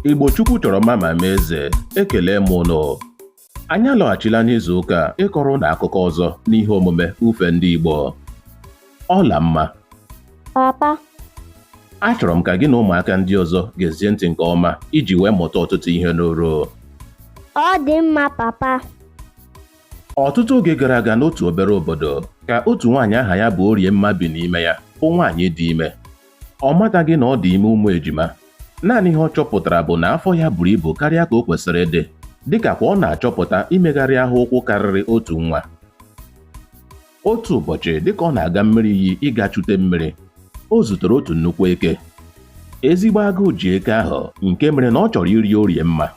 Igbo Chukwu chọrọ mma ma mee eze ekele m ụnụ anyị alọghachila n'izu ụka a ịkọrọ ụnụ akụkọ ọzọ n'ihe omume ufe ndị Igbo Ọlamma papa achọrọ m ka gị na ụmụaka ndị ọzọ gezie ntị nke ọma iji wee mụta ọtụtụ ihe n'oru ọ dị mma papa ọtụtụ oge gara aga n'otu obere obodo ka otu nwaanyị aha ya bụ Oriemma bi n'ime ya bụ nwaanyị dị ime Ọ mataghị na ọ dị ime ụmụ ejima. Naanị ihe ọ chọpụtara bụ na afọ ya buru ibu karịa ka o kwesịrị ịdị, dịka kwa ọ na-achọpụta imegharị ahụ ụkwụ karịrị otu nwa. Otu ụbọchị, dịka ọ na-aga mmiri iyi ịga chute mmiri, o zutere otu nnukwu eke. Ezigbo agụụ ji eke ahụ nke mere na ọ chọrọ iri Oriemma.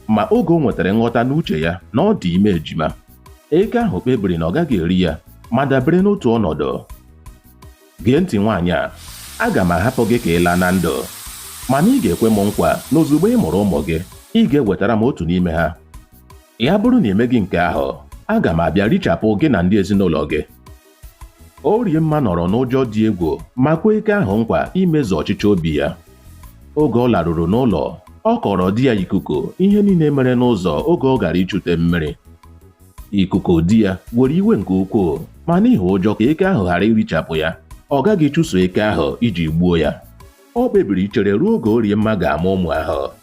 Ma oge o nwetara nghọta n'uche ya na ọ dị ime ejima, eke ahụ kpebiri na ọ gaghị eri ya ma dabere n'otu ọnọdụ. Gee ntị nwaanyị a, aga m ahapụ gị ka ị laa na ndụ. Mana ị ga-ekwe m nkwa na ozugbo ị mụrụ ụmụ gị, ị ga-ewetara m otu n'ime ha. Ya bụrụ na ị meghị nke ahụ, aga m abịa richapụ gị na ndị ezinụlọ gị. Oriemma nọrọ n'ụjọ dị egwu ma kwee eke ahụ nkwa imezu ọchịchọ obi ya. Oge ọ laruru n'ụlọ, ọ kọọrọ di ya Ikuku ihe niile mere n'ụzọ oge ọ gara ichute mmiri. Ikuku di ya were iwe nke ukwuu ma n'ihi ụjọ ka eke ahụ ghara irichapụ ya ọ gaghị chụso eke ahụ iji gbuo ya ọ kpebiri ichere ruo oge Oriemma ga-amụ ụmụ ahụ